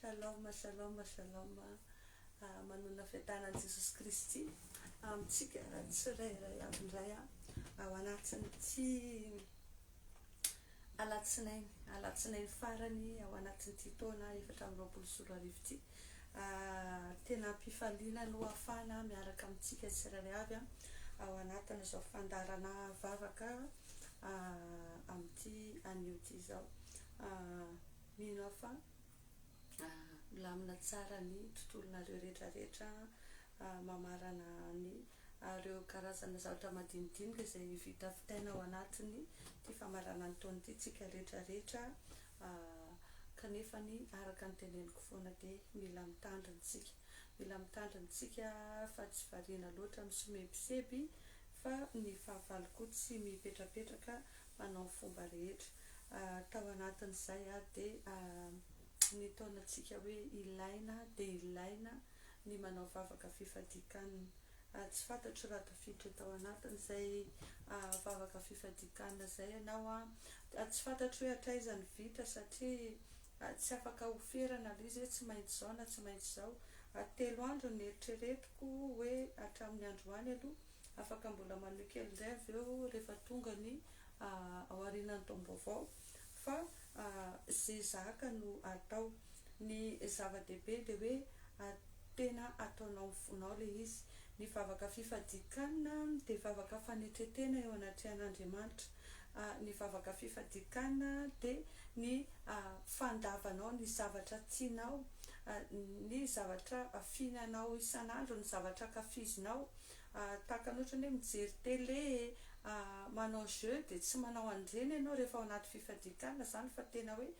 Shalom shalom shalom manonona fiadanan'i Jesosy Kristy amintsika tsirairay avy indray ao anatin'ity alatsinainy alatsinainy farany ao anatin'ity taona efatra amby roapolo sy roa arivo ity tena am-pifaliana no hafana miaraka amintsika tsirairay avy ao anatin'izao fandarana vavaka amin'ity anio ity izao Mino aho fa milamina tsara ny tontolonareo rehetra rehetra mamarana an'ireo karazana zavatra madinidinika izay vita fitaina ao anatin'ity famaranana ny taona ity tsika rehetra rehetra kanefa araka ny teneniko foana dia mila mitandrina tsika mila mitandrina tsika fa tsy variana loatra misomebiseby fa ny fahavalo koa tsy mipetrapetraka manao fomba rehetra tao anatin'izay ary dia nitaonantsika hoe ilaina dia ilaina ny manao vavaka fifadian-kanina. Tsy fantatro raha tafiditra tao anatin'izay vavaka fifadian-kanina izay ianao an. Tsy fantatro hoe hatraiza ny vita satria tsy afaka oferana ilay izy hoe tsy maintsy izao na tsy maintsy izao. Telo andro no neritreretiko hoe hatramin'ny androany aloha Afaka mbola manohy kely indray avy eo rehefa tonga ny ao aorianan'ny taom-baovao fa ze zaka no atao. Ny zava-dehibe dia hoe tena ataonao ny fonao le izy. Ny vavaka fifadian-kanina dia vavaka fanetren-tena eo anatrehan'Andriamanitra. ny vavaka fifadian-kanina dia ny fandavanao ny zavatra tianao, ny zavatra fihinanao isan'andro, ny zavatra ankafizinao, tahaka ny ohatra hoe mijery télé, manao jeux, dia tsy manao an'ireny ianao rehefa ao anaty fifadian-kanina izany fa tena hoe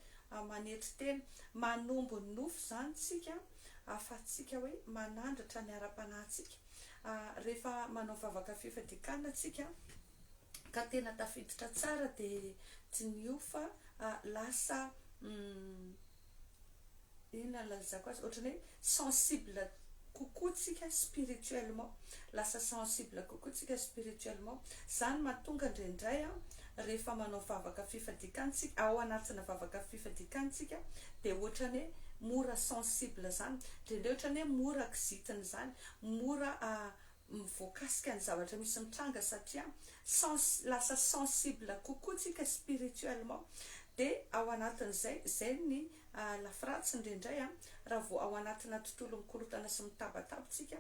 manetry tena. Manombo ny nofo izany isika ahafahantsika hoe manandratra ny ara-panahintsika. Rehefa manao vavaka fifadian-kanina isika ka tena tafiditra tsara dia tsy ny io fa lasa inona nilazako azy ohatran'ny hoe sensible kokoa tsika spirituellement lasa sensible kokoa tsika spirituellement zany mahatonga indraindray an rehefa manao vavaka fifadikan tsika ao anatina vavaka fifadikan tsika dia ohatran'ny hoe mora sensible zany indraindray ohatran'ny hoe mora kizitina izany mora voakasika ny zavatra misy mitranga satria sens lasa sensible kokoa tsika spirituellement de ao anatin'izay zay ny lafiratsy indraindray a raha vao ao anatina tontolo mikorotana sy mitabataba tsika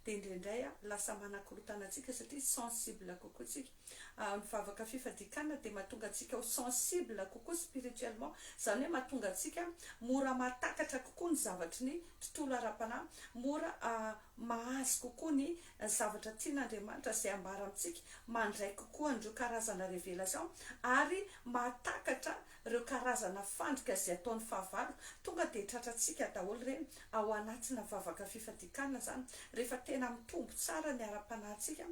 de indraindray a lasa manakorotana antsika satria sensible kokoa tsika ao ny vavaka fifadiakana de mahatonga antsika ho sensible kokoa spirituellement zany hoe mahatonga antsika mora mahatakatra kokoa ny zavatry ny tontolo ara-panahy mora mahazo kokoa ny zavatra tian'Andriamanitra izay ambara amintsika, mandray kokoa an'ireo karazana révélation, ary mahatakatra ireo karazana fandrika izay ataon'ny fahavalo, tonga dia tratrantsika daholo ireny ao anatina vavaka fifadikanana izany, rehefa tena mitombo tsara ny ara-panahintsika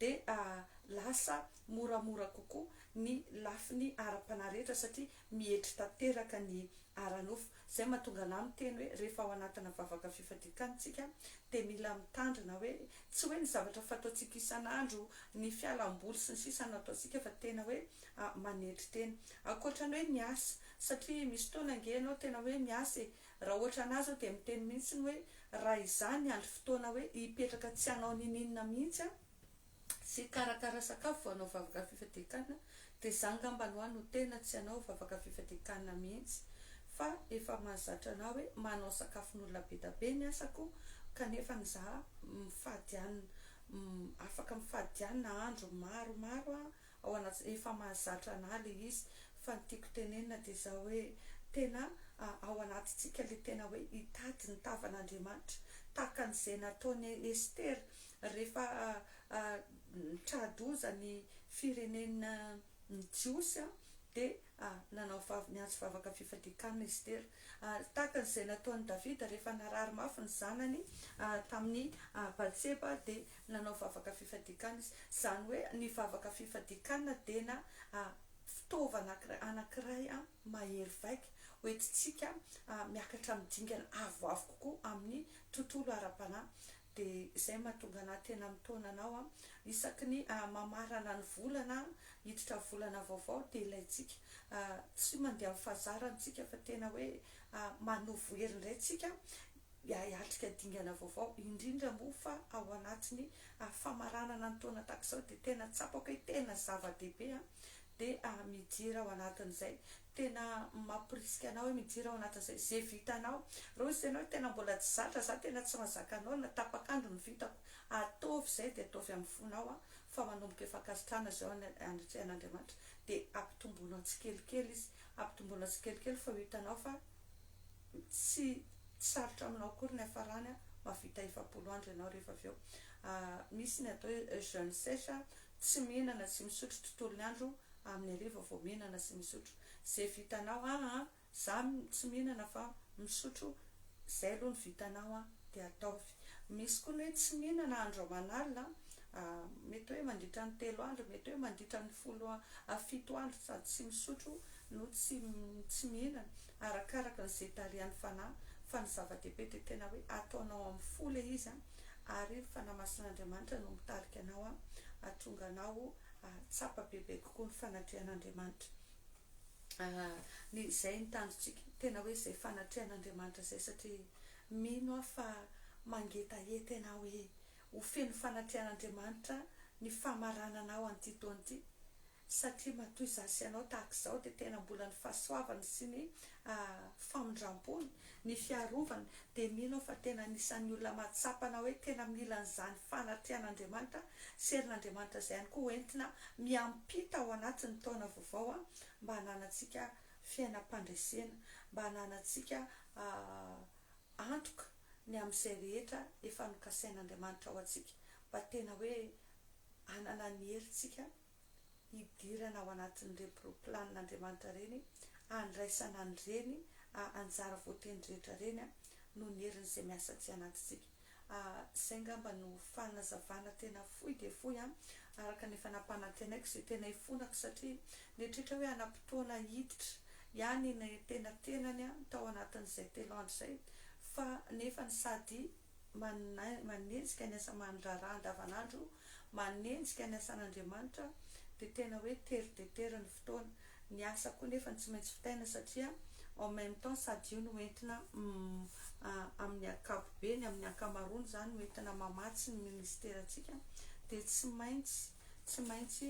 dia lasa moramora kokoa ny lafiny ara-panahy rehetra satria mietry tanteraka ny ara-nofo. Izay mahatonga anah miteny hoe rehefa ao anatina vavaka fifadian-kany isika dia mila mitandrina hoe tsy hoe ny zavatra fataontsika isan'andro, ny fialam-boly sy ny sisa no ataontsika fa tena hoe manetry tena. Ankoatra ny hoe miasa, satria misy fotoana ange ianao tena hoe miasa e! Raha ohatra anah izao dia miteny mihitsy ny hoe raha izaho niandry fotoana hoe hipetraka tsy hanao ninoninona mihitsy aho, Tsy hikarakara sakafo vao hanao vavaka fifadian-kanina dia za ngamba aloha no tena tsy hanao vavaka fifadian-kanina mihitsy fa efa mahazatra anah hoe manao sakafon'olona bedabe ny asako kanefa ny za mifady hanina afaka mifady hanina andro maromaro aho ao anaty efa mahazatra anah le izy fa ny tiako tenenina dia zao hoe tena ao anatintsika le tena hoe hitady ny tavan'Andriamanitra tahaka an'izay nataon'i Estera rehefa nitradoza ny firenen'ny Jiosy an dia nanao vav niantso vavaka fifadian-kanina Estera ary tahaka an'izay nataon'i Davida rehefa narary mafy ny zanany tamin'i Batseba dia nanao vavaka fifadian-kanina izy. Izany hoe ny vavaka fifadian-kanina dna fitaovana anankiray mahery vaika hoentintsika miakatra amin'ny dingana avoavo kokoa amin'ny tontolo ara-panahy. Dia izay mahatonga anà tena mitaona anao. Isaky ny mamarana ny volana, hiditra volana vaovao, dia ilaintsika. Tsy mandeha amin'ny fahazarana isika fa tena hoe manovo hery indray isika dia hiatrika dingana vaovao, indrindra moa fa ao anatin'ny famaranana ny taona tahaka izao dia tena tsapako hoe tena zava-dehibe an, dia midira ao anatin'izay, tena mamporisika anao hoe midira ao anatin'izay, izay vitanao, raha ohatra ianao tena mbola tsy zatra, za tena tsy mahazaka anao na tapak'andro ny vitako, ataovy izay dia ataovy amin'ny fonao an, fa manomboka fankasitrahana izao an, anatrehan'Andriamanitra, dia ampitomboinao tsikelikely izy, ampitomboinao tsikelikely fa ho hitanao fa. tsy sarotra aminao akory ny hafarany an! Mahavita efapolo andro ianao rehefa avy eo misy ny atao hoe jeune sèche an! Tsy mihinana sy misotro tontolon'ny andro amin'ny hariva vao mihinana sy misotro izay vitanao an! an! Za tsy mihinana fa misotro izay aloha ny vitanao an! Dia ataovy! Misy koa ny hoe tsy mihinana andro aman'alina an! Mety hoe mandritra ny telo andro, mety hoe mandritra ny folo à fito andro sady tsy misotro no tsy tsy mihinana, arakaraka ny ze tarihan'ny fanahy, fa ny zava-dehibe de tena hoe ataonao amin'ny fo le izy an, ary ny fanahy masin'Andriamanitra no mitarika anao an, ahatonga anao ahatsapa bebe kokoa ny fanatrehan'Andriamanitra. Ny zay ny tanjontsika, tena hoe zay fanatrehan'Andriamanitra zay satria mino aho fa mangetaheta ianao ee, Ho feno fanatrehan'Andriamanitra ny famaranana aho an'ity taona ity, satria matoa izaho sy ianao tahaka izao dia tena mbola ny fahasoavany sy ny famindram-pony, ny fiarovany, dia mino aho fa tena anisan'ny olona mahatsapa na hoe tena mila an'izany fanatrehan'Andriamanitra sy herin'Andriamanitra izay ihany koa ho entina miampita ao anatin'ny taona vaovao mba hananantsika fiainam-pandresena, mba hananantsika antoka ny amin'izay rehetra efa nokasain'Andriamanitra ho antsika, mba tena hoe hanana ny hery tsika hidirana ao anatin'ireny pro-planin'Andriamanitra ireny, handraisana an'ireny anjara voatendry rehetra ireny noho ny herin'izay miasa aty anatintsika. Izay angamba no fanazavana tena fohy dia fohy araka ny efa nampanantenaiko sy tena ifonako satria Nieritreritra hoe hanam-potoana hiditra ihany ny antenantenany tao anatin'izay telo andro izay fa nefa ny sady manenjika ny asa aman-draharaha andavanandro, manenjika ny asan'Andriamanitra dia tena hoe tery dia tery ny fotoana. Ny asa koa nefa no tsy maintsy vitaina satria en même temps sady io no entina amin'ny ankapobeny, amin'ny ankamaroany izany no entina mamatsy ny ministerantsika dia tsy maintsy Tsy maintsy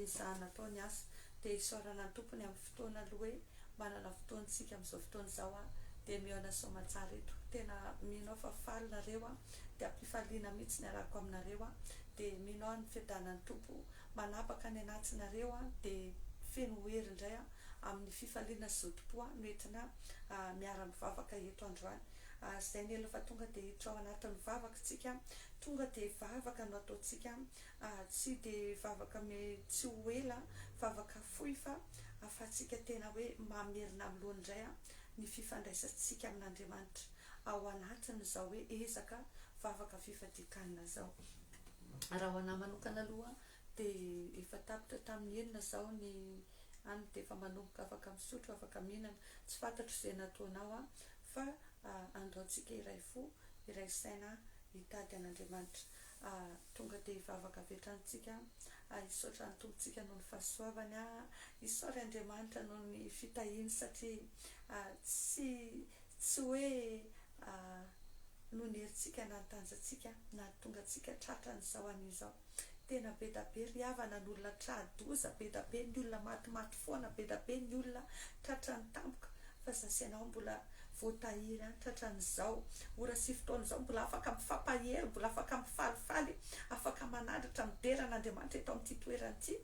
ezahina atao ny asa, dia isaorana ny Tompo ny amin'ny fotoana aloha hoe manana fotoana isika amin'izao fotoana izao an, dia mihaona soamantsara eto, tena mino aho fa faly nareo an, dia am-pifaliana mihitsy ny iarahako aminareo an, dia mino aho ny fiadanan'ny Tompo manapaka ny anatsinareo an, dia feno hery indray an, amin'ny fifaliana sy zotom-po an no entina miara-mivavaka eto androany. Ary izay miaina fa tonga dia hiditra ao anatin'ny vavaka isika, tonga dia vavaka no ataontsika, tsy dia vavaka me tsy ho ela, vavaka fohy fa ahafahantsika tena hoe mamerina miloha indray ny fifandraisantsika amin'Andriamanitra ao anatin'izao hoe ezaka vavaka fifadian-kanina izao. Raha ho an'ahy manokana aloha dia efa tapitra tamin'ny enina izao ny any dia efa manomboka afaka misotro, afaka mihinana, tsy fantatro izay nataonao Fa andaontsika iray fo, iray saina hitady an'Andriamanitra. Tonga dia hivavaka avy hatrany tsika, hisaotra ny Tompontsika noho ny fahasoavany, hisaory Andriamanitra noho ny fitahiany satria tsy tsy hoe noho ny herintsika na ny tanjatsika nahatonga antsika tratran'izao anio izao. Tena be da be ry havana ny olona tra-doza, be da be ny olona matimaty foana, be da be ny olona tratran'ny tampoka, fa za sy ianao mbola voatahiry an, tratran'izao ora sy fotoana izao, mbola afaka mifampahery, mbola afaka mifalifaly, afaka manandratra, midera an'Andriamanitra eto amin'ity toerana ity,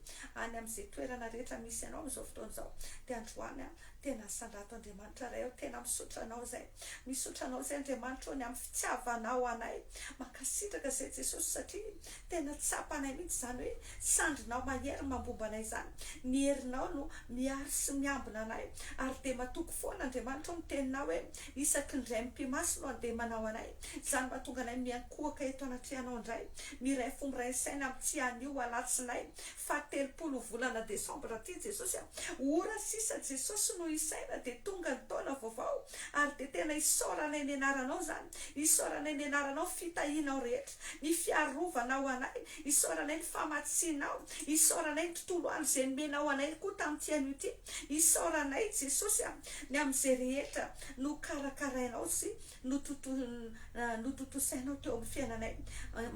any amin'izay toerana rehetra misy anao amin'izao fotoana izao, dia androany Tena asandrato Andriamanitra Ray ô tena misaotra anao zay misaotra anao zay Andriamanitra ô ny amin'ny fitiavanao anay mankasitraka zay Jesosy satria tena tsapanay mihitsy izany hoe sandrinao mahery mambomba anay izany ny herinao no miaro sy miambina anay ary dia matoky foana Andriamanitra ô ny teninao hoe isaky ny raim-py masy no andeha manao anay izany mahatonga anay miankohoka eto anatrehanao indray miray fo miray saina amin'ity anio alatsinay Faha telopolo volana desambra ty Jesosy a! Ora sisa Jesosy no hisaina dia tonga ny taona vaovao ary dia tena hisaoranay ny anaranao zany, hisaoranay ny anaranao fitahianao rehetra, ny fiarovana ho anay, hisaoranay ny famatsianao, hisaoranay ny tontolo andro izay nomenao anay koa tamty anio ty, hisaoranay Jesosy a! ny amzay rehetra nokarakarainao sy notontosainao teo amin'ny fiainanay.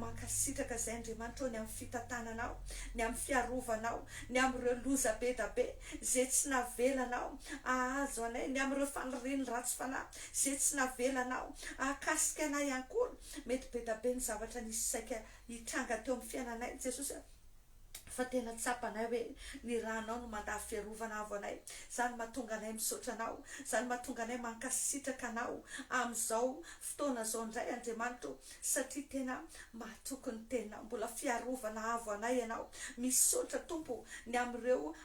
Mankasitraka izay Andriamanitra ô, ny amin'ny fitantananao, ny amin'ny fiarovanao, ny amin'ireo loza be da be izay tsy navelanao ahazo anay, ny amin'ireo fanirian'ny ratsy fanahy izay tsy navelanao ahakasika anay ihany koa. Mety be da be ny zavatra nisy saika hitranga teo amin'ny fiainanay Jesosy a. fa tena tsapanay hoe ny ranao no mandà fiarovana avo anay, zany matonga anay misaotra anao, zany matonga anay mankasitraka anao amin'izao fotoana zao indray Andriamanitra o, satria tena mahatoky ny teninao, mbola fiarovana avo anay ianao, misaotra Tompo ny amin'ireo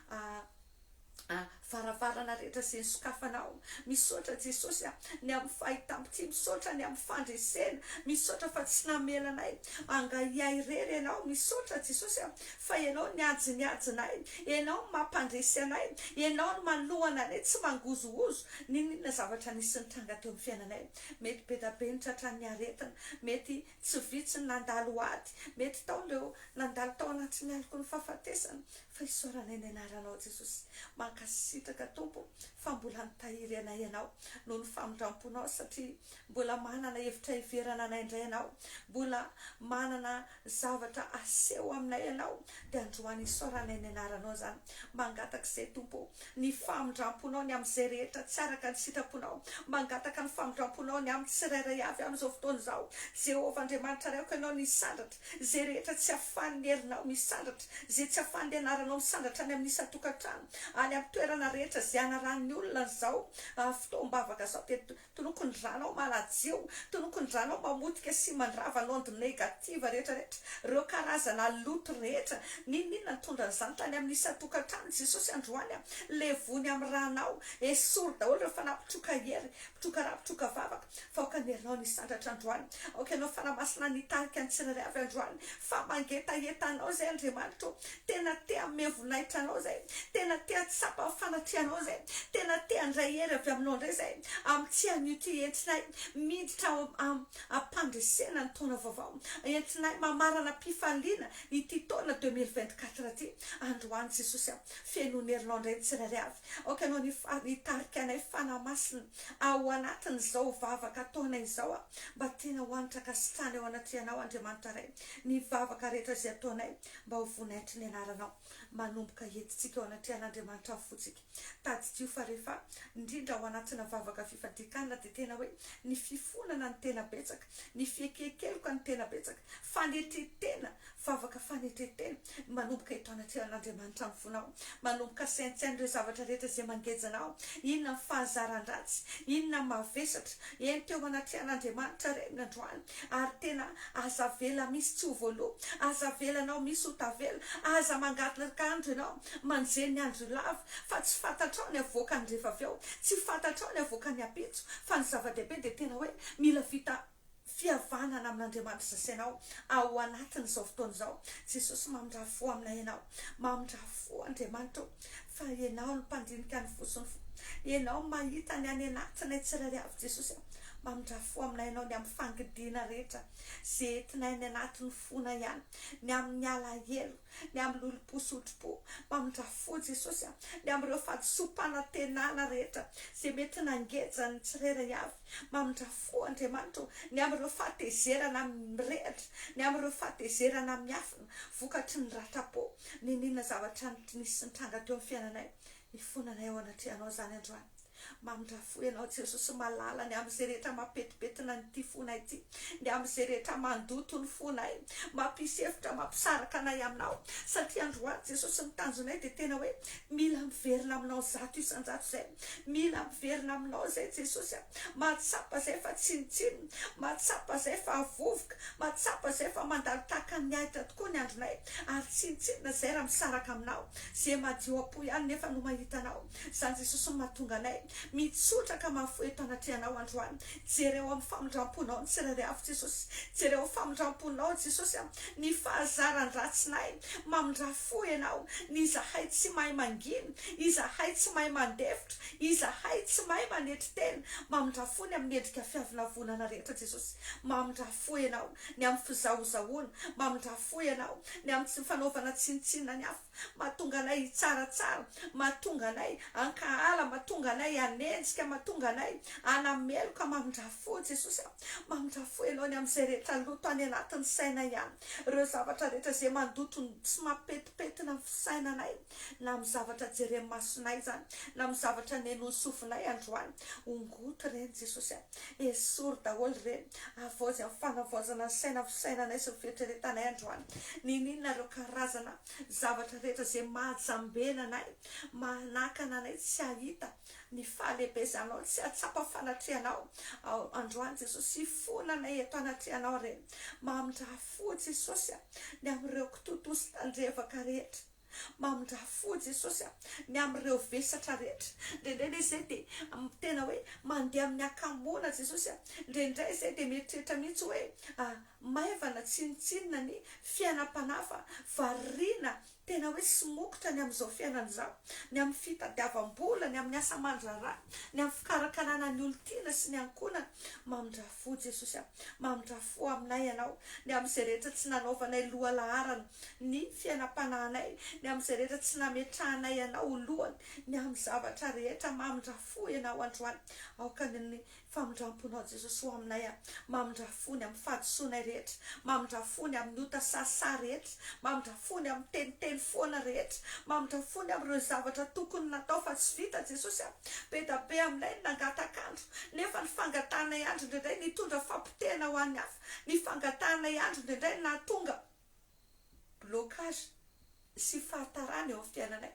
a varavarana rehetra izay nisokafanao misaotra Jesosy a ny amin'ny fahitampo ty misaotra ny amin'ny fandresena misaotra fa tsy namela anay anga hiay irery ianao misaotra Jesosy a fa ianao ny ajy ny ajy nay ianao ny mampandresy anay ianao ny manohana anay tsy mangozohozo n'inon'inona zavatra nisy nitranga teo amin'ny fiainanay mety be da be ny tratran'ny aretina mety Tsy vitsy ny nandalo ady, mety tao ireo nandalo tao anatin'ny aloky ny fahafatesana, fa isaoranay ny anaranao Jesosy. Mankasitraka Tompo fa mbola nitahiry anay Ianao noho ny famindramponao satria mbola manana hevitra hiverana anay indray Ianao, mbola manana zavatra haseho aminay Ianao Dia androany isaoranay ny anaranao izany. Mangataka izay Tompo ô, ny famindramponao ny amin'izay rehetra tsy araka ny sitraponao. Mangataka ny famindramponao ny amin'ny tsirairay avy amin'izao fotoana izao. Jehovah Andriamanitra Raiko Ianao no hisandratra izay rehetra tsy ahafahan'ny herinao misandratra, izay tsy ahafahan'ny anaranao misandratra any amin'ny isan-tokantrano, any amin'ny toerana rehetra izay anarahan'ny olona an'izao fotoam-bavaka izao teto Toloky ny rano ao Manajeo, toloky ny rano ao Mamotika sy mandrava ny onde negative rehetra rehetra, ireo karazana loto rehetra, N'inon'inona nitondra an'izany tany amin'ny isan-tokantrano, Jesosy androany a, levony amin'ny ranao, Esory daholo ireo fanahy mpitroka hery, mpitroka ra, mpitroka vavaka, Fa aoka ny herinao nisandratra androany, Aoka ianao Fanahy Masina nitarika ny tsirairay avy androany, Fa mangetahetanao izay Andriamanitro, Tena te hanome voninahitra Anao izay. Tena te hahatsapa ny fanatrehanao izay. Tena te handray hery avy Aminao indray izay, amin'ny tsy anio ity. Entinay miditra ao am-pandresena ny taona vaovao. Entinay mamarana am-pifaliana ity taona deux mille vingt quatre ity, androany Jesosy a. Fenoy ny herinao indray ny tsirairay avy. Aoka Ianao hitarika anay Fanahy Masina ao anatin'izao vavaka ataonay izao a. Mba tena ho an'ny trankasitrahana eo anatrehanao Andriamanitra Ray, ny vavaka rehetra izay ataonay. mba ho voninahitry ny anaranao manomboka entintsika eo anatrehan'Andriamanitra ny fontsika. Tadidio fa rehefa indrindra ao anatina vavaka fifadian-kanina dia tena hoe ny fifonana no tena betsaka, ny fieken-keloka no tena betsaka, fanetren-tena, vavaka fanetren-tena, manomboka eto anatrehan'Andriamanitra ny fonao Manomboka saintsaino ireo zavatra rehetra izay mangeja anao. Inona ny fahazaran-dratsy? Inona ny mavesatra? Eny, teo anatrehan'Andriamanitra ireny androany. Ary tena aza avela misy tsy ho voaloa. Aza avela anao misy ho tavela. Aza mangataka andro ianao. Manjehy ny andro lava. Fa tsy fantatrao ny havoakan'ny rehefa avy eo. Tsy fantatrao ny havoakan'ny ampitso. Fa ny zava-dehibe dia tena hoe mila vita fihavanana amin'Andriamanitra zazainao ao anatin'izao fotoana izao. Jesosy mamindrà fo aminay Ianao. Mamindrà fo Andriamanitra ô, fa Ianao no mpandinika ny fo sy ny fo. Ianao no mahita ny any anatinay tsirairay avy Jesosy a. Mamindrà fo aminay Ianao ny amin'ny fangidiana rehetra izay entinay any anatin'ny fonay any, ny amin'ny alahelo, ny amin'ny lolompo sy otripo. Mamindrà fo Jesosy a, ny amin'ireo fahadisoam-panantenana rehetra izay mety nangeja ny tsirairay avy. Mamindrà fo Andriamanitra o, ny amin'ireo fahatezerana mirehitra, ny amin'ireo fahatezerana miafina vokatry ny ratram-po, niniana zavatra nisy nitranga teo amin'ny fiainanay. Mifonanay ao anatrehanao izany androany. Mamindrà fo Ianao Jesosy malala ny amin'izay rehetra mampetipetina an'ity fonay ity, ny amin'izay rehetra mandoto ny fonay, mampisy hevitra mampisaraka anay Aminao, satria androany Jesosy ny tanjonay dia tena hoe mila miverina Aminao zato isan-jato izay. Mila miverina aminao izay Jesosy a! Mahatsapa izay fa tsinontsinona, mahatsapa izay fa vovoka, mahatsapa izay fa mandalo tahaka ny ahitra tokoa ny andronay, ary tsinontsinona izay raha misaraka aminao, izay madio am-po ihany nefa no mahita anao, izany Jesosy no mahatonga anay mitsotra ka mahafoy eto anatrehanao androany, jereo amin'ny famindram-ponao ny tsirairay avy Jesosy, jereo ny famindram-ponao Jesosy a! Ny fahazaran-dratsinay mamindrà fo ianao, ny izahay tsy mahay mangina, izahay tsy mahay mandefitra, izahay tsy mahay manetry tena, mamindrà fo ny amin'ny endrika fiavonavonana rehetra Jesosy, mamindrà fo ianao ny amin'ny fizahozahoana, mamindrà fo ianao ny amin'ny tsy fanaovana tsinontsinona ny hafa. Mahatonga anay hitsaratsara, mahatonga anay hankahala, mahatonga anay hanenjika, mahatonga anay hanameloka, mamindrafo fo Jesosy a, mamindrafo fo Ianao ny amin'izay rehetra loto any anatin'ny sainay any, ireo zavatra rehetra izay mandoto sy mampipetipetina ny fisainanay, na amin'ny zavatra jeren'ny masonay izany, na amin'ny zavatra nenoin'ny sofinay androany, hongoty ireny Jesosy a. Esory daholo ireny, havaozy amin'ny fanavaozana ny saina fisainanay sy ny fieritreretanay androany. Niniana ireo karazana zavatra rehetra izay mahajambena anay, manakana anay tsy hahita ny fahalehibezanao, tsy hahatsapa fanatrehanao ao androany Jesosy. Hifona anay eto anatrehanao ireny. Mamindrafo Jesosy a, ny amin'ireo kitontosa tandrevaka rehetra. Mamindra fo Jesosy a, ny amin'ireo vesatra rehetra. Indraindray ve izay dia tena hoe mandeha amin'ny hakamoana Jesosy a. Indraindray izay dia mieritreritra mihitsy hoe a, maivana tsinontsinona ny fiainam-panahy fa variana tena hoe sy mokotra ny amin'izao fiainana izao, ny amin'ny fitadiavam-bola, ny amin'ny asa aman-draharaha, ny amin'ny fikarakarana ny olon-tiana sy ny ankohonana. Mamindra. Fo Jesosy a, mamindrafo fo aminay Ianao, ny amin'izay rehetra tsy nanaovanay lohalaharana ny fiainam-panahinay, ny amin'izay rehetra tsy nametrahanay Anao ho lohany, ny amin'ny zavatra rehetra, mamindrafo fo Ianao androany, aoka ny famindram-ponao Jesosy ho aminay a, mamindrafo fo ny amin'ny fahadisoanay rehetra, mamindrafo fo ny amin'ny ota sahasaha rehetra, mamindrafo fo ny amin'ny teniteny foana rehetra, mamindrafo fo ny amin'ireo zavatra tokony natao fa tsy vita Jesosy a, be da be aminay ny nangataka andro, Nefa ny fangatahanay andro indraindray nitondra fahapotehana ho an'ny hafa, ny fangatahanay andro indraindray nahatonga blocage sy fahatarana eo amin'ny fiainanay.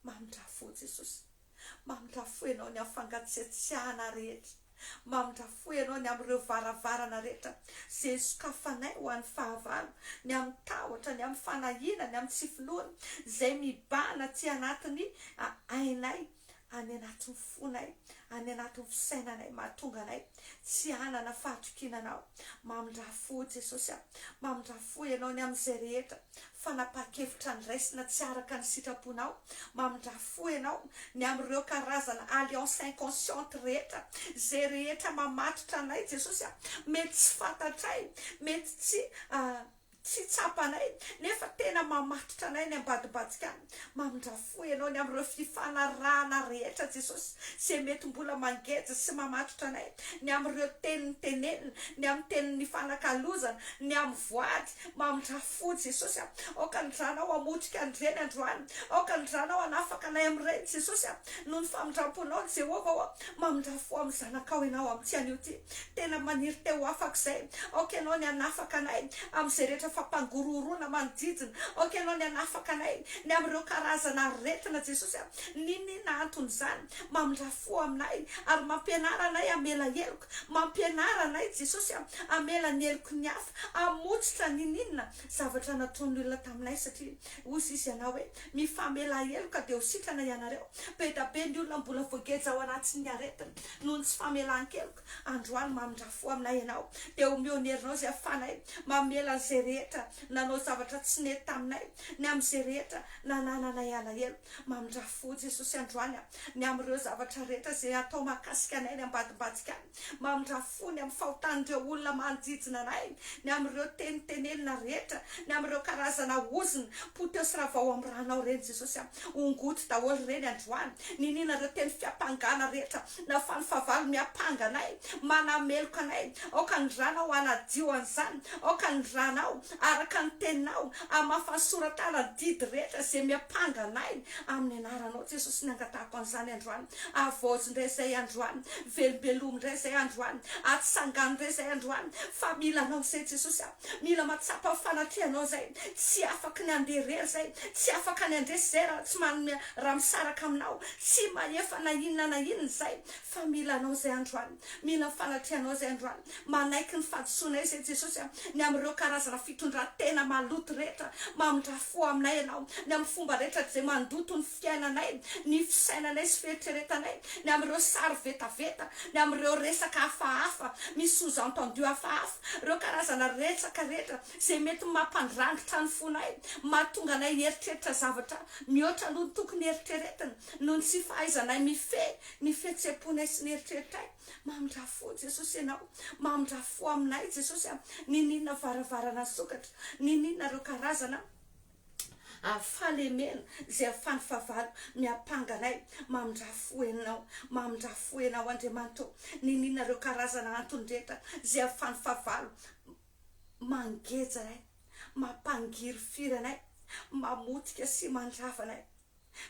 Mamindrà fo Jesosy. Mamindrà fo Ianao ny amin'ny fangatsiatsiahana rehetra. Mamindrà fo Ianao ny amin'ireo varavarana rehetra izay nosokafanay ho an'ny fahavalo, ny amin'ny tahotra, ny amin'ny fanahiana, ny amin'ny tsy finoana izay mibahana aty anatin'ny ainay. any anatin'ny fonay, any anatin'ny fisainanay mahatonga anay tsy hanana fahatokiana Anao. Mamindrà fo Jesosy a! Mamindrà fo Ianao ny amin'izay rehetra fanapahan-kevitra niraisina tsy araka ny sitraponao. Mamindrà fo Ianao ny amin'ireo karazana alliance inconsciente rehetra, izay rehetra mamatotra anay Jesosy a! Mety tsy fantatray, mety tsy Tsy tsapanay, nefa tena mamatotra anay ny ambadibadika any. Mamindrà fo Ianao ny amin'ireo fifanarahana rehetra, Jesosy, izay mety mbola mangeja sy mamatotra anay, ny amin'ireo teny notenenina, ny amin'ny teny nifanakalozana, ny amin'ny voady. Mamindrà fo, Jesosy a. Aoka ny Ranao hamotrika an'ireny androany. Aoka ny Ranao hanafaka anay amin'ireny, Jesosy a. Noho ny famindram-ponao, Jehovah ô, mamindrà fo amin'ny zanakao Ianao amin'ity anio ity. Tena maniry te ho afaka izay. Aoka Ianao ny hanafaka anay amin'izay rehetra fampangorohoroana manodidina. Aoka Ianao ny hanafaka anay ny amin'ireo karazana aretina, Jesosy a. N'inon'inona anton'izany, mamindrà fo aminay ary mampianara anay hamela heloka. Mampianara anay, Jesosy a, hamela ny heloky ny hafa, hamotsotra n'inon'inona zavatra nataon'ny olona taminay, satria hoy izy Ianao hoe, Mifamelà heloka, dia ho sitrana ianareo. Be dia be ny olona mbola voageja ao anatin'ny aretina. Noho ny tsy famelan-keloka, androany mamindra fo aminay ianao. Dia omeo ny herinao izay ahafahanay mamela an'izay rehetra nanao zavatra tsy nety taminay, ny amin'izay rehetra nanananay alahelo. Mamindra fo, Jesosy, androany, ny amin'ireo zavatra rehetra izay atao mahakasika anay ny ambadimbadika any. Mamindra fo ny amin'ny fahotan'ireo olona manodidina anay, ny amin'ireo teny tenenina rehetra, ny amin'ireo karazana ozona, poteau sy ravao amin'ny rànao ireny, Jesosy. Hongoty daholo ireny androany, niniana ireo teny fiampangana rehetra, nafan'ny fahavalo miampanga anay, manameloka anay, aoka ny Ranao hanadio an'izany, aoka ny Ranao, araka ny Teninao, hamafa ny soratana ny didy rehetra izay miampanga anay, amin'ny Anaranao Jesosy no nangatahako an'izany androany, havaozy indray izay androany, velombelomy indray izay androany, atsangano indray izay androany, fa mila Anao izay Jesosy a. Mila matsapa fanatri anao izay. Tsy afak ny handeha irery izay. Tsy afaka ny handresy izay raha tsy manome raha misaraka aminao. Tsy mahefa na inona na inona izay. Fa mila anao izay androany. Mila ny fanatrianao izay androany. Manaiky ny fahadisoanay izay Jesosy a. Ny amin'ireo karazana fitondran-tena maloto rehetra. Mamindrà fo aminay ianao. Ny amin'ny fomba rehetra izay mandoto ny. fiainanay, ny fisainanay sy fieritreretanay, ny amin'ireo sary vetaveta, ny amin'ireo resaka hafahafa, misy sous-entendu hafahafa, ireo karazana resaka rehetra izay mety mampandrangitra ny fonay, mahatonga anay hieritreritra zavatra mihoatra aloha ny tokony heritreretina, noho ny tsy fahaizanay mifehy ny fihetsem-ponay sy ny eritreritray. Mamindrà fo, Jesosy, Ianao. Mamindrà fo aminay, Jesosy, a. Niniana varavarana nisokatra. Niniana ireo karazana. Ahafalemena izay ahafan'ny fahavalo miampanga anay mamindrà fo Enao mamindrà fo Enao Andriamanitra ô Niniana ireo karazana antony rehetra izay ahafan'ny fahavalo mangeja anay mampangirifiry anay mamotika sy mandrava anay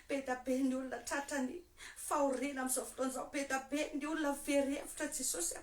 Be da be ny olona tratra ny fahoriana amin'izao fotoana izao, be da be ny olona very hevitra, Jesosy a,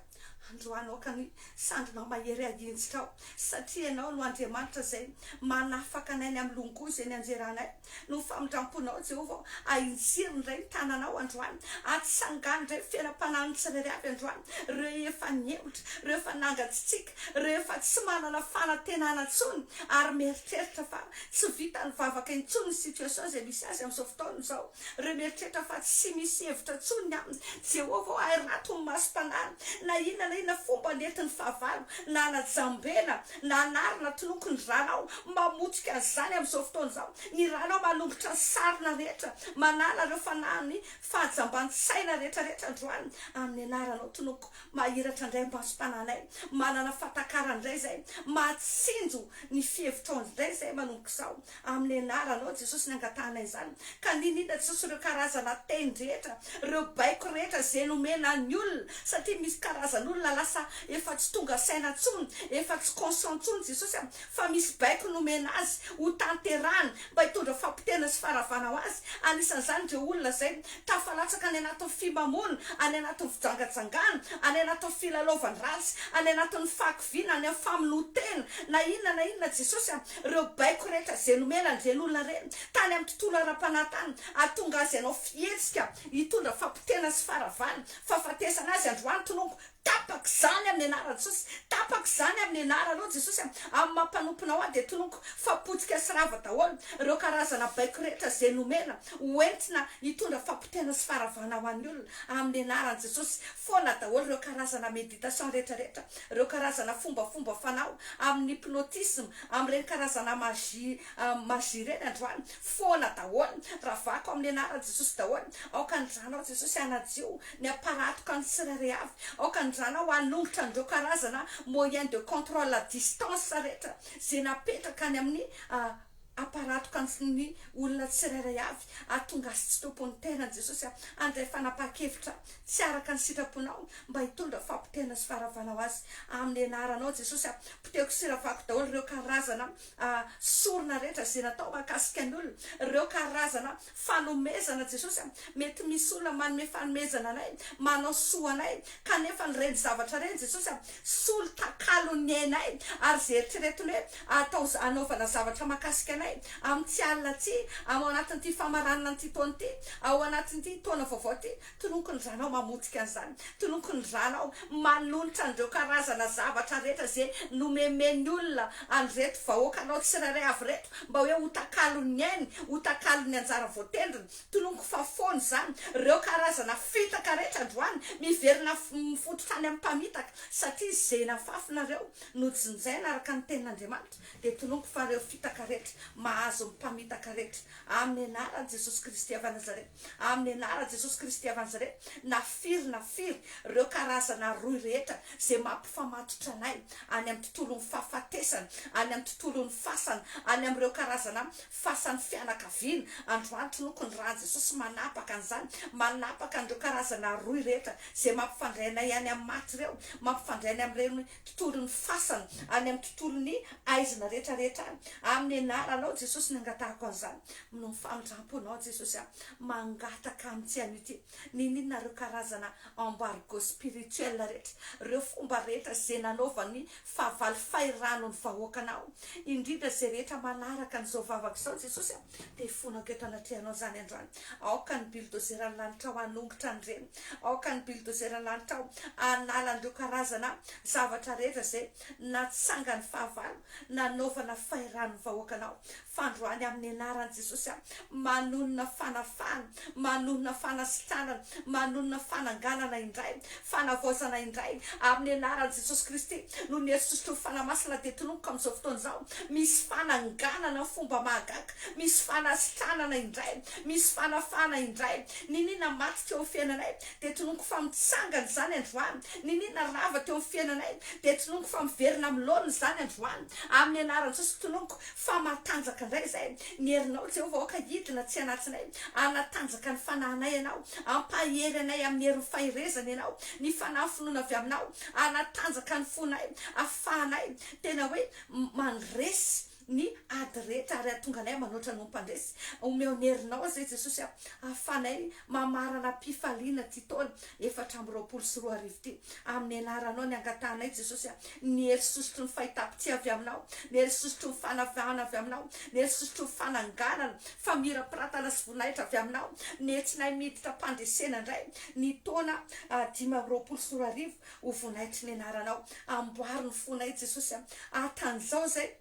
androany aoka ny sandrinao mahery hahinjitra ao, satria Ianao no Andriamanitra izay manafaka anay ny amin'ny longo izay nianjeranay, noho ny famindramponao Jehovah ô, ahinjiro indray ny tananao androany, atsangano indray ny fiainam-panahin'ny tsirairay avy androany, ireo efa nihemotra, ireo efa nangatsitsiaka, ireo efa tsy manana fanantenana intsony ary mieritreritra fa. Tsy vitan'ny vavaka intsony ny situation izay misy azy amin'izao fotoana izao. Ireo mieritreritra fa tsy misy hevitra intsony ny aminy, Jehovah ô, ary rato ny masom-panahy, na inona na inona fomba nentin'ny fahavalo, na hanajambena, na hanarina tinonkony ny ranao, mamotika an'izany amin'izao fotoana izao. Ny ranao manongotra ny sarona rehetra, manala ireo fanahiny fahajamban-tsaina rehetra rehetra androany, amin'ny anaranao, Tompoko. Mahiratra indray am-pahasotananay, manana fahatakarana indray izay, mahatsinjo ny fihevitrao indray izay manomboka izao, amin'ny anaranao Jesosy no angatahanay izany, ka niniana Jesosy ireo karazana teny rehetra, ireo baiko rehetra izay nomena ny olona, satria misy karazan'olona lasa efa tsy tonga saina intsony, efa tsy conscient intsony Jesosy a, fa misy baiko nomena azy ho tanterahany mba hitondra fampotehana sy faharavana ho azy, anisan'izany ireo olona izay Tafalatsaka any anatin'ny fimamoana, any anatin'ny fijangajangana, any anatin'ny filalaovan-dratsy, any anatin'ny fahakiviana, any amin'ny famonoan-tena, na inona na inona, Jesosy a, ireo baiko rehetra izay nomena an'ireny olona ireny, tany amin'ny tontolo ara-panahy tany, hahatonga azy hanao fihetsika hitondra fampotehana sy faharavana, fahafatesana azy androany, Tompoko. Tapako izany amin'ny anaran'i Jesosy, tapako izany amin'ny anaranao Jesosy a, amin'ny maha mpanomponao ahy dia tononiko fa potika sy rava daholo ireo karazana baiko rehetra izay nomena ho entina hitondra fahapotehana sy faharavana ho an'ny olona, amin'ny anaran'i Jesosy, foana daholo ireo karazana méditation rehetra rehetra, ireo karazana fombafomba fanao amin'ny hypnotisme, amin'ireny karazana magie magie ireny androany, Foana daholo, ravako amin'ny anaran'i Jesosy daholo, aoka ny Ranao Jesosy hanadio ny aparatoka ny tsirairay avy, aoka ny Ranao hanongotra an'ireo karazana moyen de contrôle à distance rehetra izay napetraka any amin'ny aparatoka ny olona tsirairay avy, hahatonga azy tsy tompon'ny tenany Jesosy handray fanapahan-kevitra tsy araka ny sitraponao mba hitondra fampotehana sy faharavana ho azy, amin'ny anaranao Jesosy potehiko sy ravako daholo ireo karazana a Sorona rehetra izay natao mahakasika ny olona ireo karazana fanomezana Jesosy a Mety misy olona manome fanomezana anay manao soa anay kanefa ny reny zavatra reny Jesosy a Solo takalon ny ainay ary izay eritreretiny hoe atao anaovana zavatra mahakasika anay Amin tsy alina tsy Ao anatin ity famaranana an ity taona ity Ao anatin ity taona vaovao ity Tonoko ny Zanao mamotika an'izany. Tonoko ny Zanao manolotra an'ireo karazana zavatra rehetra izay nomemen'ny olona an'ireto vahoakanao tsirairay avy ireto mba hoe ho takalon'ny ainy, ho takalon'ny anjara voatendriny. Tonoko fa foana izany. Ireo karazana fitaka rehetra androany miverina mifototra any amin'ny mpamitaka satria izay nafafinareo, nojinjaina araka ny Tenin'Andriamanitra, dia tonoko fa ireo fitaka rehetra mahazo ny mpamitaka rehetra amin'ny anaran'i Jesosy Kristy avy Nazareta. Amin'ny anaran'i Jesosy Kristy avy Nazareth, na firy na firy ireo karazana rohy rehetra izay mampifamatotra anay any amin'ny tontolon'ny fahafatesana, any amin'ny tontolon'ny fasana, any amin'ireo karazana fasan'ny fianakaviana, androany tonoko ny ran'i Jesosy manapaka an'izany, manapaka an'ireo karazana rohy rehetra izay mampifandray anay any amin'ny maty ireo, mampifandray anay amin'ireny mpitory ny fasana any amin'ny tontolon'ny aizina rehetra rehetra any, amin'ny anaranao Jesosy no angatahako an'izany, amin'ny famindramponao Jesosy aho mangataka amin'ity anio ity, niniana ireo karazana embargo spirituel rehetra, ireo fomba rehetra izay nanaovan'ny fahavalo fay rano ny vahoakanao, indrindra izay rehetra manaraka an'izao vavaka izao Jesosy aho dia fonako eto anatrehanao izany androany, aoka ny bildozeran'ny lanitrao hanongotra an'ireny, Aoka ny bildozer lanitra ao hanala an'ireo karazana zavatra rehetra izay natsangan'ny fahavalo nanaovana fahirano ny vahoakanao. Fandroany amin'ny anaran'i Jesosy aho. Manonona fanafahana, manonona fanasitranana, manonona fananganana indray, fanavaozana indray amin'ny anaran'i Jesosy Kristy. Noho ny herisotrony fanahymasina dia tononiko amin'izao fotoana izao, misy fananganana fomba mahagaga, misy fanasitranana indray Misy fanafahana indray. Niniana maty teo amin'ny fiainanay, dia tononiko fa mitsangana izany androany. Niniana rava teo amin'ny fiainanay, dia tononiko fa miverina amin'ny laoniny izany androany. Amin'ny anaran'i Jesosy, tononiko fa matanjaka indray izay. Ny herinao, Jehovah, aoka hidina atsy anatinay. Hanatanjaka ny fanahinay ianao. Ampà hery anay amin'ny herin'ny faherezana ianao. Ny fanahy finoana avy aminao hanatanjaka ny fonay, ahafahanay tena hoe mandresy ny ady rehetra ary hahatonga anay manoatra noho ny mpandresy. Omeo ny herinao aho izay Jesosy a! Ahafanay mamarana am-pifaliana ity taona efatra amby roapolo sy roa arivo ity. Amin'ny anaranao ny angatahanay Jesosy a! Ny hery sosotry ny fahitapo-tsy avy aminao, ny hery sosotry ny fanavahana avy aminao, ny hery sosotry ny fananganana, famirapiratana sy voninahitra avy aminao, ny hetsinay miditra am-pandresena indray ny taona dimy amby roapolo sy roa arivo. Ho vonaitry ny anaranao. Amboary ny fonay Jesosy a. Atanjaho izay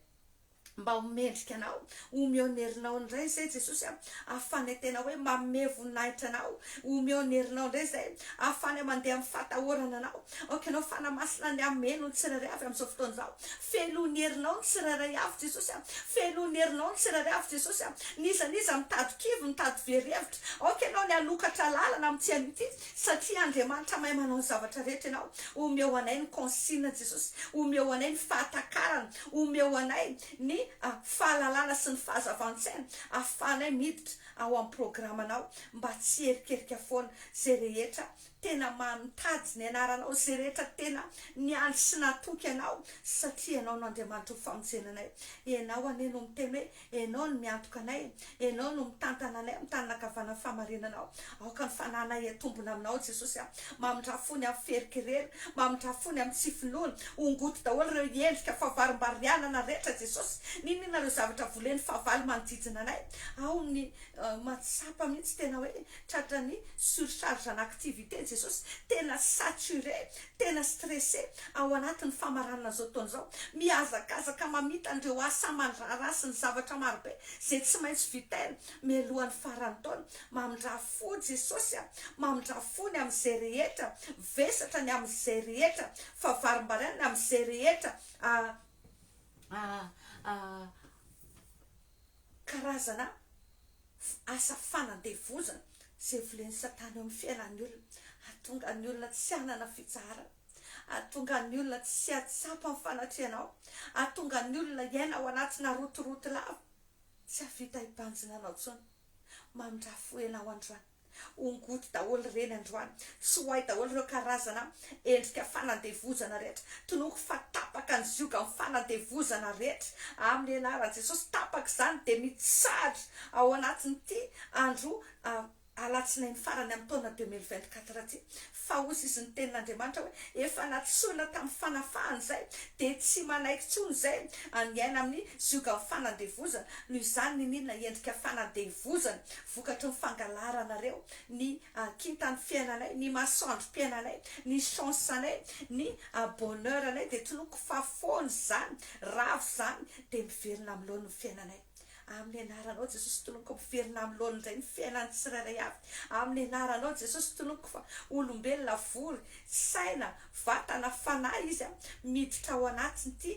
mba ho mendrika anao. Omeo ny herinao indray izay Jesosy a. Afany tena hoe manome voninahitra anao. Omeo ny herinao indray izay. Afany mandeha amin'ny fahatahorana anao. Aoka ianao Fanahy Masina ny hameno ny tsirairay avy amin'izao fotoana izao. Feno ny herinao ny tsirairay avy Jesosy a. Feno ny herinao ny tsirairay avy Jesosy a. N'iza n'iza mitady kivy, mitady very hevitra. Aoka ianao ny hanokatra lalana amin'ity anio ity. Satria Andriamanitra mahay manao ny zavatra rehetra ianao, omeo anay ny consigne Jesosy, omeo anay ny fahatakarana, omeo anay ny fahalalana sy ny fahazavan-tsaina ahafahanay miditra ao amin'ny programanao mba tsy hierikerika foana, izay rehetra tena mitady ny anaranao, izay rehetra tena niandry sy natoky anao, satria ianao no Andriamanitry ny famonjena anay, ianao anie no miteny hoe Ianao no miantoka anay, Ianao no mitantana anay amin'ny tanana ankavanan'ny fahamarinanao. Aoka ny fanahinay hitombina aminao, Jesosy a. Mamindrà fo ny amin'ny ferikerera, mamindrà fo ny amin'ny tsy finoana. Hongoty daholo ireo endrika fahavarimbarianana rehetra, Jesosy. N'inon'inona ireo zavatra volen'ny fahavalo manodidina anay, ao ny mahatsapa mihitsy tena hoe tratran'ny surcharge en activité, Jesosy. Tena saturé, Tena stressé ao anatin'ny famaranana izao taona izao. Mihazakazaka mamita an'ireo asa aman-draharaha sy ny zavatra marobe izay tsy maintsy vitain mialohan'ny faran'ny taona. Mamindrà fo Jesosy a! Mamindrà fo ny amin'izay rehetra vesatra ny amin'izay rehetra favarimbarana ny amin'izay rehetra a a a. karazana asa fanandevozana izay volen'i Satana eo amin'ny fiainan'ny olona, hahatonga ny olona tsy hanana fitsaharana, hahatonga ny olona tsy hahatsapa ny fanatrehanao, hahatonga ny olona hiaina ao anatina rotoroto lava tsy hahavita hibanjina anao intsony, mamindrafo enao androany. Hongoty daholo ireny androany. Tsy ho hay daholo ireo karazana endrika fanandevozana rehetra. Tononiko fa tapaka ny ziogan'ny fanandevozana rehetra amin'ny anaran'i Jesosy. Tapaka izany dia mitsahatra ao anatin'ity andro alatsinainy farany amin'ny taona deux mille vingt-quatre ity. Fa hozy izy ny tenin'Andriamanitra hoe, efa natsoina tamin'ny fanafahana izay, dia tsy manaiky intsony izay ny miaina amin'ny ziogan'ny fanandevozana, noho izany ny milina hiendrika fanandevozana, vokatry ny fangalaranareo ny kintan'ny fiainanay, ny masoandrom-piainanay, ny chance-nay, ny bonheur-nay, dia toloko fa fona izany, rava izany, dia miverina amin'ny laoniny ny fiainanay. Amin'ny anaranao Jesosy tonoko miverina amin'ny laoniny indray ny fiainan'ny tsirairay avy amin'ny anaranao Jesosy tonoko fa olombelona vory saina vatana fanahy izy miditra ao anatin'ity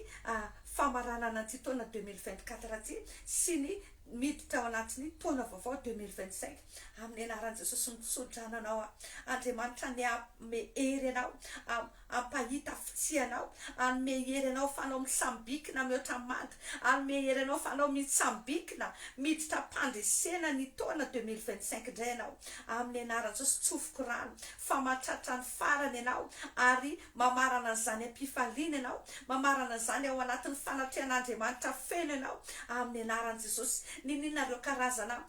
famaranana an'ity taona deux mille vingt quatre ity sy ny miditra ao anatin'ny taona vaovao deux mille vingt cinq amin'ny anaran'i Jesosy mitso-drano anao aho Andriamanitra miha-mehery anao amin'ny Hampahita ftsy anao, hanome hery anao fa anao mitsambikina mihoatra manga, hanome hery anao fa anao mitsambikina miditra am-pandresena ny taona deux mille vingt cinq indray ianao, amin'ny anaran'i Jesosy tsofiko rano fa mahatratra ny farany ianao ary mamarana an'izany am-pifaliana ianao, mamarana an'izany ao anatin'ny fanatrehan'Andriamanitra feno ianao amin'ny anaran'i Jesosy, niniana ireo karazana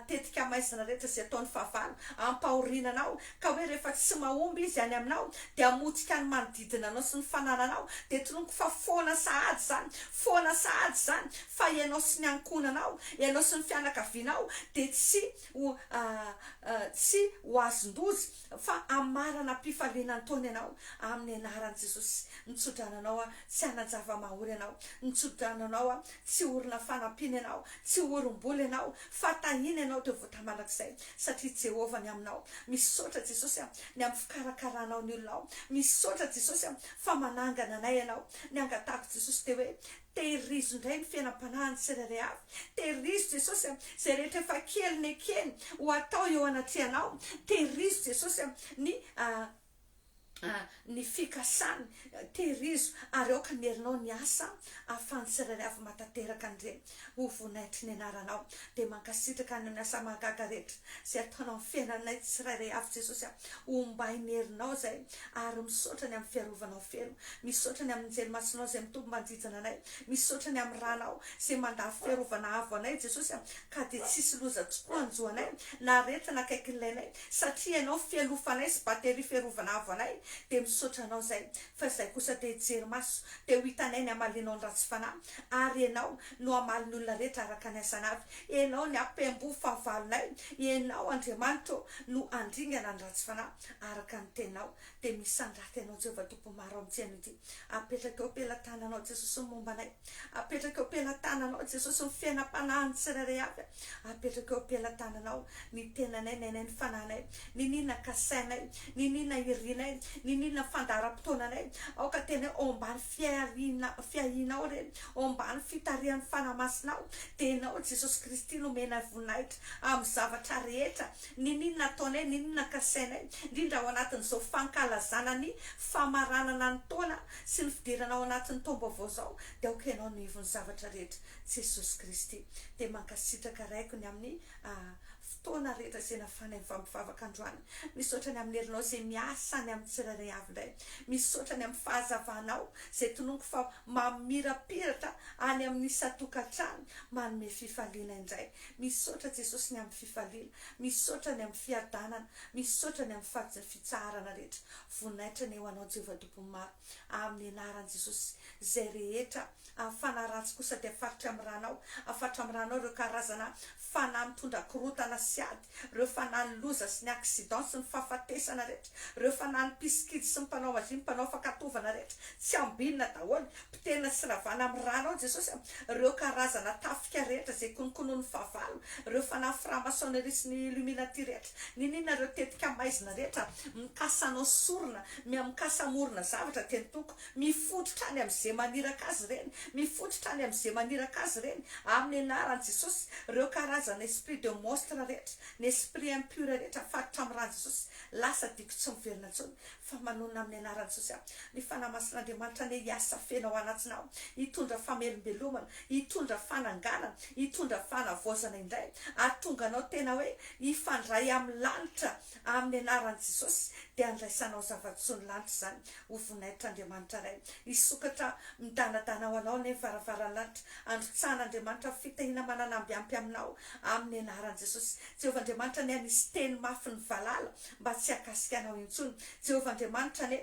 tetika maizina rehetra izay ataon'ny fahavalo hampahoriana anao Ka hoe rehefa tsy mahomby izy any aminao, dia hamotika ny manodidina anao sy ny fanananao, dia tononiko fa foana sahady izany, foana sahady izany, fa ianao sy ny ankohonanao, ianao sy ny fianakavianao, dia tsy ho, ah, ah, tsy ho azon-doza, fa hamarana am-pifaliana ny taona ianao, amin'ny anaran'i Jesosy. Nitso-drano anao aho, tsy hanan-java-mahaory anao, nitso-drano anao aho, Tsy orina fanampiana ianao, tsy orim-bola ianao, fa tahina ianao devota mandrakizay, satria Jehovah ny aminao. Misaotra Jesosy a, ny amin'ny fikarakaranao ny olonao. Misaotra Jesosy a, fa manangana anay ianao. Ny angatahako Jesosy dia hoe, tehirizo indray ny fiainam-panahiny tsirairay avy. Tehirizo Jesosy a, izay rehetra efa kely nekeny ho atao eo anatrehanao. Tehirizo Jesosy a, ny. ny fikasany, tehirizo ary aoka ny herinao ny asa ahafahan'ny tsirairay avy matateraka ny re ho voninahitry ny anaranao dia mankasitraka any amin'ny asa mahagaga rehetra izay ataonao amin'ny fiainanay tsirairay avy Jesosy a hombainy herinao izay ary misaotra ny amin'ny fiarovanao feno misaotra ny amin'ny njelimasinao izay mitombo manjijina anay misaotra ny amin'ny ranao izay mandà fiarovana avo anay Jesosy a ka dia tsisy loza tokoa hanjo anay na aretina akaiky nilainay Satria ianao fialoha fanahy sy bateria fiarovana avo anay dia misaotra anao izay fa izay kosa te hijery maso dia ho hitanay ny hamalianao ny ratsy fanahy ary ianao no hamaly ny olona rehetra araka ny asany avy ianao ny apembo fahavalonay ianao Andriamanitra ô no handringana ny ratsy fanahy araka ny teninao dia misy angaty anao Jehovah Tompo maro amintsika no ity apetraka eo am-pelatananao Jesosy ny momba anay. Apetraka eo pelatananao Jesosy ny fiainam-panahin'ny tsirairay avy Apetraka eo pelatananao Ny tenanay Ny ainay Ny fanahinay Niniana kasainay Niniana irinay Niniana fandaharam-potoananay Aoka tenay Ao ambany fiahiana fiahianao re Ao ambany fitarihan'ny Fanahy Masinao Dia Ianao Jesosy Kristy no omenay voninahitra Amin'ny zavatra rehetra Niniana ataonay Niniana kasainay Indrindra ao anatin'izao fankalazana ny famaranana ny taona sy ny fidirana ao anatin'ny taom-baovao izao dia aoka ianao no ivon'ny zavatra rehetra Jesosy Kristy dia mankasitraka Raiko ny amin'ny ah fotoana rehetra izay nafanay mifampivavaka androany misaotra ny amin'ny herinao izay miasa any amin'ny tsirairay avy indray misaotra ny amin'ny fahazavanao izay tononiko fa mamirapiratra any amin'ny isan-tokantrano manome fifaliana indray misaotra Jesosy ny amin'ny fifaliana misaotra ny amin'ny fiadanana misaotra ny amin'ny fitsaharana rehetra Voninahitra anie ho Anao Jehovah Tompon'ny maro, amin'ny anaran'i Jesosy, izay rehetra hafana ratsy kosa dia faritry amin'ny ranao, afaritry amin'ny ranao ireo karazana fanahy mitondra korotana sy ady, ireo fanahin'ny loza sy ny accident sy ny fahafatesana rehetra, ireo fanahin'ny mpisikidy sy ny mpanao mazy, ny mpanao fankatoavana rehetra, tsy ambinina daholo, Potehina sy ravana amin'ny rano ao Jesosy a, ireo karazana tafika rehetra izay konokononin'ny fahavalo, ireo fanahy franc-maçonnerie sy ny illuminati rehetra, niniana ireo tetika maizina rehetra mikasa hanao sorona, mia mikasa hamorona zavatra dia ny toko, mifototra any amin'izay maniraka azy ireny, mifototra any amin'izay maniraka azy ireny amin'ny anaran'i Jesosy, ireo karazana esprit de monstre rehetra, ny esprit impur rehetra, fatotra amin'ny ràn'i Jesosy, lasa dico tsy miverina intsony, fa manonona amin'ny anaran'i Jesosy aho, ny fanahy masin'Andriamanitra anie hiasa feno ao anatiny aho, hitondra famelombelomana, hitondra fananganana, hitondra fanavaozana indray, ary tonga anao tena hoe hifandray amin'ny lanitra amin'ny anaran'i Jesosy, dia handraisanao zava-tsoa ny lanitra izany, ho voninahitr'Andriamanitra Ray, hisokatra midanadana ho anao anie ny varavaran'ny lanitra, handrotsahan'Andriamanitra amin'ny fitahiana mananamby ampy aminao amin'ny anaran'i Jesosy, Jehovah Andriamanitra anie hanisy teny mafy ny valala mba tsy hakasikanao intsony. Jehovah Andriamanitra anie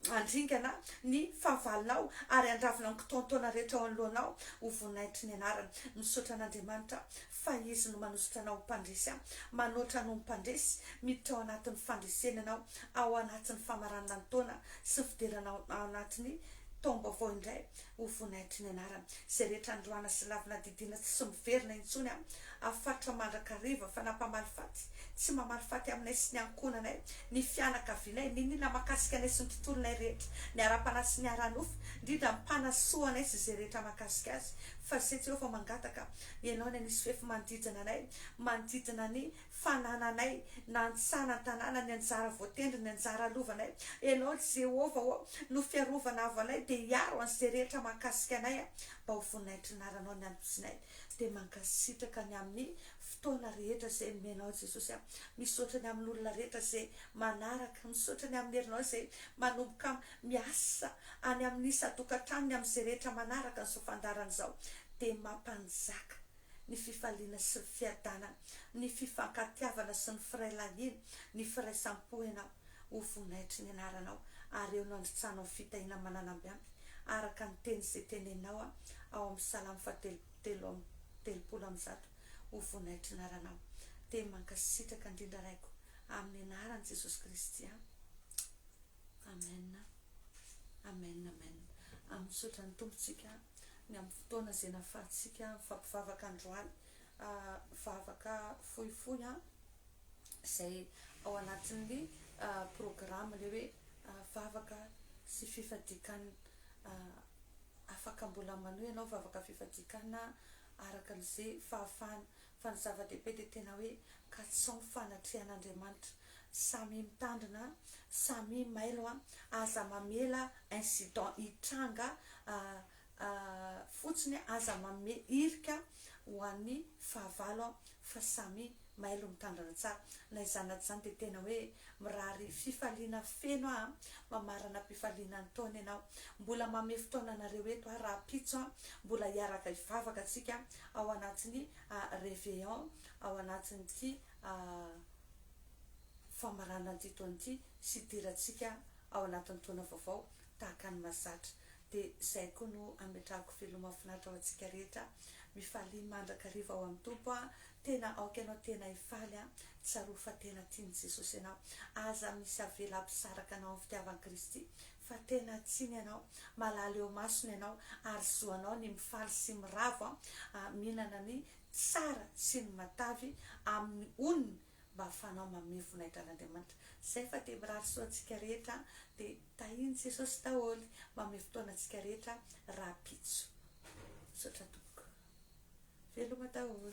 handringana ny fahavalonao ary handravona ny kitaontaona rehetra ao anoloanao ho voninahitry ny anarany. Misaotra an'Andriamanitra fa izy no manosotra anao ho mpandresy an! Manoatra anao ho mpandresy, miditra ao anatin'ny fandreseny ianao ao anatin'ny famaranana ny taona sy ny fiderana ao anatin'ny taom-baovao indray Ho vonaitry ny anarany, izay rehetra androana sy lavina didiana tsy miverina intsony aho, afatotra mandrakariva fa nampamaly faty, tsy mamaly faty aminay sy ny ankohonanay, ny fianakavianay, ny nila makasika anay sy ny tontolonay rehetra, ny ara-panahy sy ny ara-nofo, indrindra ny mpanasoa anay sy izay rehetra makasika azy, Farisehy Jehovah mangataka, Ianao no hanisy fefy manodidina anay, manodidina ny fanananay, na an-tsaha na an-tanàna, ny anjara voatendry, ny anjara lovanay. Ianao, Jehovah ô, no fiarovana avo anay, dia hiaro an'izay rehetra mahakasika anay ahy, mba ho voninahitry ny anaranao ny androsinay. Dia mankasitraka ny amin'ny fotoana rehetra izay nomenao Jesosy a. Misaotra ny amin'olona rehetra izay manaraka. Misaotra ny amin'ny herinao izay manomboka miasa any amin'ny isan-tokantrano, ny amin'izay rehetra manaraka izao fandaharana izao. Dia mampanjaka. ny fifaliana sy ny fiadanana, ny fifankatiavana sy ny firailahiana, ny firaisam-po ianao, ho vonaitry ny anaranao, ary eo no androtsanao fitahiana mananamby ampy, araka ny teny izay tenenao ao amin'ny Salamo fahatelopolo amby telopolo amby zato, ho vonaitry ny aranao. Dia mankasitraka indrindra Raiko, amin'ny anaran'i Jesosy Kristy an! Amen! Amen! Amen! Amin'ny misaotra ny Tompontsika. Ny amin'ny fotoana izay nahafahantsika nifampivavaka androany, vavaka fohifohy izay ao anatin'ny programa ilay hoe vavaka sy fifadian-kanina. Afaka mbola manohy ianao vavaka fifadian-kanina araka an'izay fahafahana. Fa ny zava-dehibe dia tena hoe katsaho ny fanatrehan'Andriamanitra, samia mitandrina, samia mailo an, aza mamela incident hitranga fotsiny, aza manome hirika ho an'ny fahavalo an, fa samia mailo mitandrina tsara. Na izany na tsy izany dia tena hoe mirary fifaliana feno aho an, mamarana am-pifaliana ny taona ianao. Mbola manome fotoana anareo eto aho rahampitso an, mbola hiaraka hivavaka tsika ao anatin'ny Réveillon ao anatin'ity famaranana an'ity taona ity sy hidirantsika ao anatin'ny taona vaovao tahaka ny mahazatra. Dia izay koa no hametrahako veloma mahafinaritra ho antsika rehetra. Mifalia mandrakariva ao amin'ny Tompo aho. Tena aoka ianao tena hifaly an! Tsarovy fa tena tian'i Jesosy ianao. Aza misy avela hampisaraka anao amin'ny fitiavan'i Kristy. fa tena tsiny ianao, malala eo masony ianao ary zo anao ny mifaly sy miravo a, mihinana ny tsara sy ny matavy amin'ny onony mba ahafahanao mamehy vonahitran'Andriamanitra. Zay fa dia mirary soa antsika rehetra dia tahian'i Jesosy daholo mamehy fotoana antsika rehetra rahampitso. Misaotra tompoko. Veloma daholo.